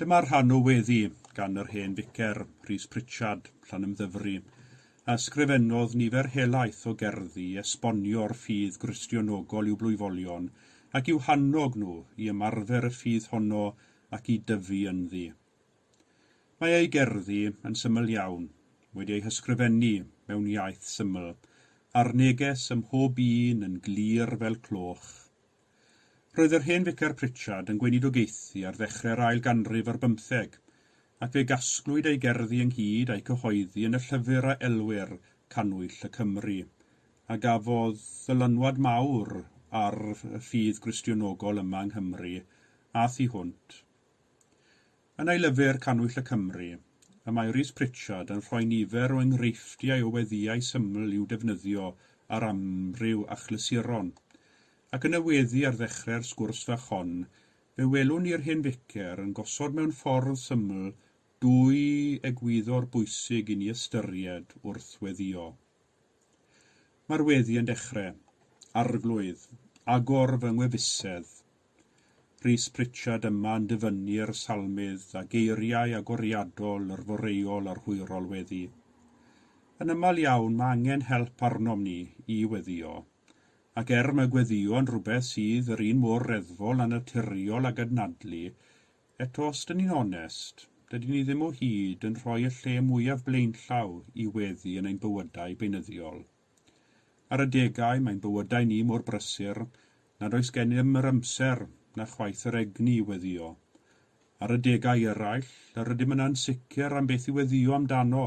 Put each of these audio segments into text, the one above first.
Dyma rhan o weddi gan yr hen ficer, Rhys Pritchard, Llanymddyfri, a ysgrifennodd nifer helaeth o gerddi i esbonio'r ffydd Gristionogol i'w blwyfolion ac i'w hannog nhw i ymarfer y ffydd honno ac i dyfu ynddi. Mae ei gerddi, yn syml iawn, wedi eu hysgrifennu mewn iaith syml, a'r neges ym mhob un yn glir fel cloch. Roedd yr hen Ficar Pritchard yn gweinidogaethu ar ddechrau'r ail ganrif ar bymtheg, ac fe gasglwyd ei gerddi ynghyd a'u cyhoeddi yn y llyfr a elwir Cannwyll y Cymry, a gafodd ddylanwad mawr ar y ffydd Gristionogol yma yng Nghymru a thu hwnt. Yn ei lyfr Cannwyll y Cymry, y mae Rhys Pritchard yn rhoi nifer o enghreifftiau o weddïau syml i'w defnyddio ar amryw achlysuron. Ac yn y weddi ar ddechrau'r sgwrs fach hon, fe welwn ni'r hen ficer yn gosod mewn ffordd syml dwy egwyddor bwysig i ni ystyried wrth weddïo. Mae'r weddi yn dechrau, Arglwydd, agor fy ngwefusedd, Rhys Pritchard yma yn dyfynnu'r salmydd a geiriau agoriadol yr foreuol a'r hwyrol weddi. Yn ymal iawn mae angen help arnom ni i weddio. Ac er mae gweddïo yn rhywbeth sydd yr un mor reddfol a naturiol ag adnadlu, eto os dyn ni'n onest, dydyn ni ddim o hyd yn rhoi y lle mwyaf blaenllaw i weddi yn ein bywydau beunyddiol. Ar adegau mae'n bywydau ni mor brysur nad oes gennym yr amser na chwaith yr egni i weddïo. Ar adegau eraill, yr ydym yn ansicr am beth i weddïo amdano,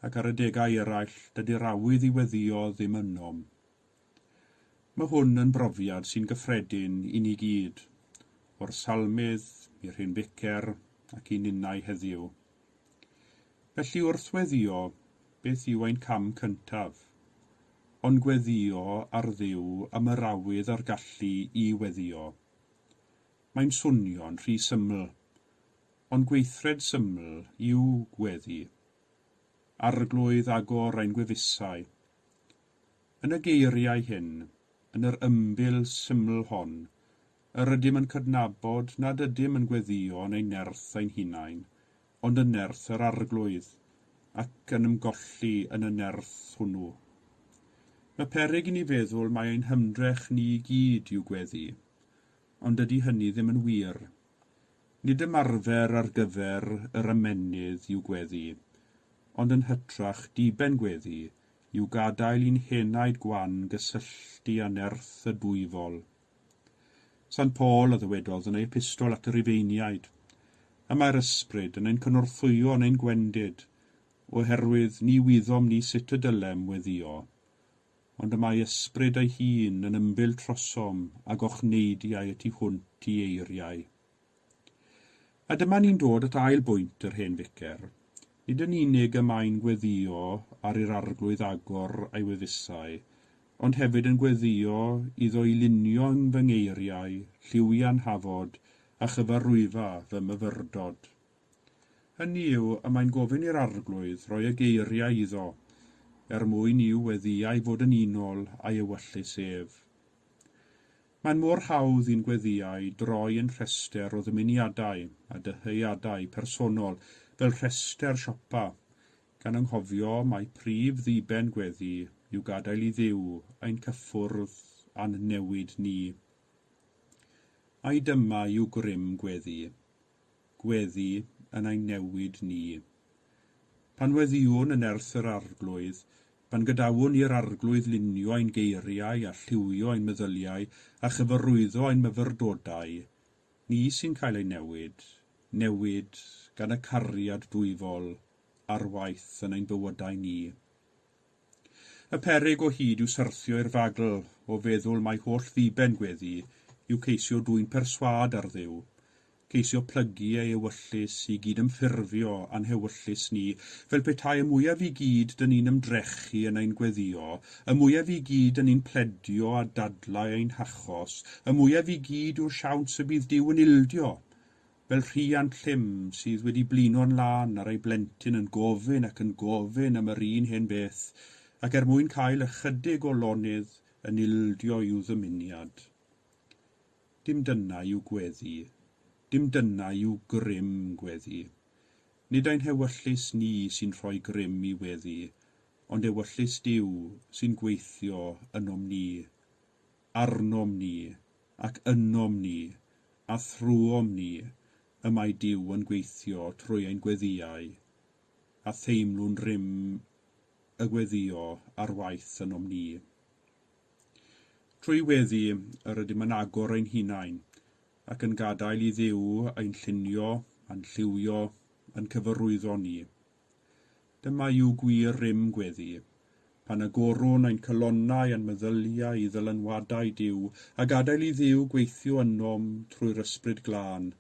ac ar adegau eraill, dydy'r awydd i weddïo ddim ynom. Mae hwn yn brofiad sy'n gyffredin i ni gyd, o'r Salmydd i'r Hen Ficer ac i ninnau heddiw. Felly wrth weddïo, beth yw ein cam cyntaf? Ond gweddïo ar Dduw am yr awydd a'r gallu i weddïo. Mae'n swnio'n rhy syml, ond gweithred syml yw gweddi. Arglwydd agor ein gwefusau. Yn y geiriau hyn, yn yr ymbil syml hon, Yr ydym yn cydnabod nad ydym yn gweddïo yn ein nerth ein hunain, ond yn nerth yr Arglwydd, ac yn ymgolli yn y nerth hwnnw. Y peryg i ni feddwl mai ein hymdrech ni i gyd yw gweddu, ond dydy hynny ddim yn wir. Nid ymarfer ar gyfer yr ymennydd yw gweddu, ond yn hytrach diben gweddu yw gadael i'n henaid gwan gysylltu â nerth y Dwyfol. San Paul a ddywedodd yn ei epistol at y Rhufeiniaid, Y mae'r Ysbryd yn ein cynorthwyo yn ein gwendid, oherwydd ni wyddom ni sut y dylem weddio, ond y mae Ysbryd ei hun yn ymbil trosom a gochneidiau y tu hwnt i eiriau. A dyma ni'n dod at ail bwynt yr hen ficer. Nid yn unig y mae'n gweddïo ar i'r Arglwydd agor ei wefusau, ond hefyd yn gweddïo iddo i lunio yn fy ngeiriau lliwiau'n hafod a chyfarwyfa fy myfyrdod. Hynny yw, y mae'n gofyn i'r Arglwydd roi y geiriau iddo, er mwyn i'w weddïau fod yn unol â'i ewyllys ef. Mae'n mor hawdd i'n gweddïau droi yn rhestr o ddymuniadau a dyheadau personol, fel rhestr siopa, gan anghofio mai prif ddiben gweddi yw gadael i Dduw ein cyffwrdd a'n newid ni. Ai dyma yw grym gweddi? Gweddi yn ein newid ni. Pan weddiwn yn nerth yr Arglwydd, Pan gadawwn i'r Arglwydd lunio ein geiriau a lliwio ein meddyliau a chyfarwyddo ein myfyrdodau, ni sy'n cael ei newid, newid gan y cariad dwyfol ar waith yn ein bywydau ni. Y peryg o hyd yw syrthio i'r fagl o feddwl mai holl ddiben gweddi yw ceisio dwyn perswâd ar Dduw, ceisio plygu ei ewyllys i gyd ymffurfio a'n hewyllys ni, fel petai y mwyaf i gyd dŷn ni'n ymdrechu yn ein gweddio, y mwyaf i gyd dŷn ni'n pledio a dadlau ein hachos, y mwyaf i gyd yw'r siawns y bydd Duw yn ildio! Fel rhiant llym sydd wedi blino'n lân ar ei blentyn yn gofyn ac yn gofyn am yr un hen beth, ac er mwyn cael ychydig o lonydd yn ildio i'w ddymuniad. Dim dyna yw gweddi, dim dyna yw grym gweddi. Nid ein hewyllys ni sy'n rhoi grym i weddi, ond ewyllys Duw sy'n gweithio ynom ni, arnom ni, ac ynom ni, a thrwom ni, y mae Duw yn gweithio trwy ein gweddïau, a theimlwn rym y gweddïo ar waith ynom ni. Trwy weddi, yr ydym yn agor ein hunain, ac yn gadael i Dduw ein llunio a'n lliwio yn cyfarwyddo ni. Dyma yw gwir rym gweddi, pan agorwn ein calonnau a'n meddyliau i ddylanwadau Duw, a gadael i Dduw gweithio ynom trwy'r Ysbryd Glân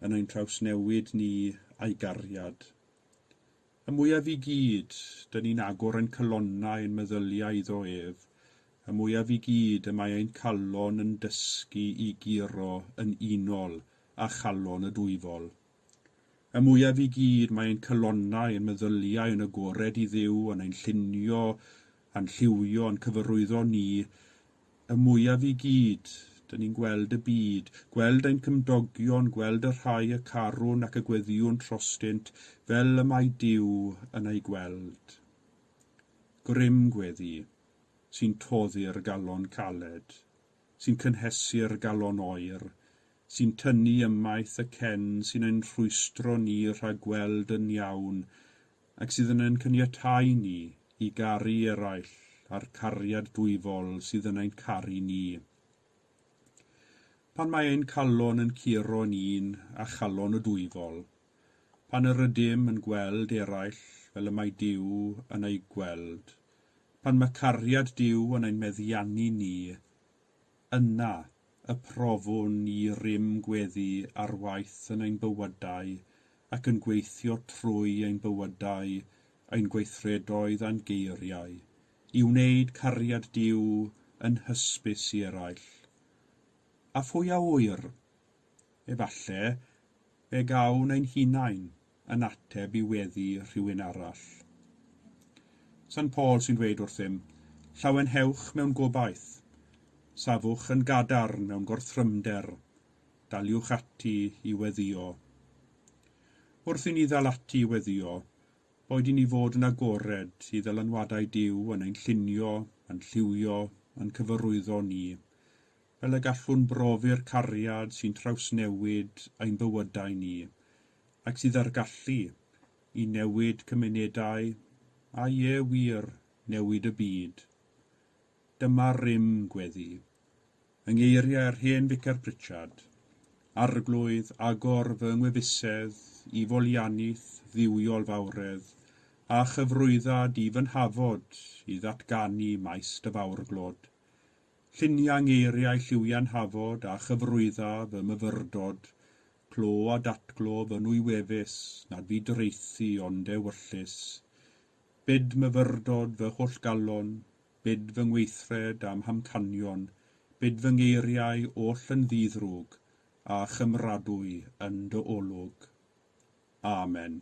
yn ein trawsnewid ni a'i gariad. Y mwyaf i gyd, dŷn ni'n agor ein calonnau, ein meddyliau iddo ef, y mwyaf i gyd y mae ein calon yn dysgu i guro yn unol â chalon y Dwyfol. Y mwyaf i gyd mae ein calonnau, ein meddyliau yn agored i Dduw, yn ein llunio A'n lliwio, a'n cyfarwyddo ni, y mwyaf i gyd, 'dyn ni'n gweld y byd, gweld ein cymdogion, gweld y rhai y carwn ac y gweddïwn trostynt, fel y mae Duw yn eu gweld. Grym gweddi, sy'n toddi'r galon caled, sy'n cynhesu'r galon oer, sy'n tynnu ymaith y cen sy'n ein rhwystro ni rhag gweld yn iawn ac sydd yn ein caniatáu ni i garu eraill â'r cariad dwyfol sydd yn ein caru ni. Pan mae ein calon yn curo yn un â chalon y dwyfol, pan yr ydym yn gweld eraill fel y mae Duw yn eu gweld, pan mae cariad Duw yn ein meddiannu ni, Yna, y profwn i rym gweddi ar waith yn ein bywydau ac yn gweithio trwy ein bywydau, ein gweithredoedd a'n geiriau, i wneud cariad Duw yn hysbys i eraill. A phwy a ŵyr? Efallai, fe gawn ein hunain, yn ateb i weddi rhywun arall. San Paul sy'n dweud wrthym, Llawenhewch mewn gobaith, safwch yn gadarn mewn gorthrymder, daliwch ati i weddïo. Wrth i ni ddal ati i weddïo, boed i ni fod yn agored i ddylanwadau Duw yn ein llunio, yn lliwio, yn cyfarwyddo ni, fel y gallwn brofi'r cariad sy'n trawsnewid ein bywydau ni, ac sydd â'r gallu i newid cymunedau a ie wir, newid y byd. Dyma rym gweddi. Yng ngeiriau'r hen Ficer Pritchard, Arglwydd, agor fy ngwefusedd i folianith dduwiol fawredd, a chyfrwydda di fy nhafod i ddatganu maes dy fawrglod. Llunia ngeiriau lliwian hafod a chyfrwydda fy myfyrdod, Clo a datglo fy nwy wefus, nad fu doraethu ond ewyllys. Bid myfyrdod fy holl galon, bid fy ngweithred a'm hamcanion, bid fy ngeiriau oll yn ddi-ddrwg, a chymradwy yn dy olwg. Amen.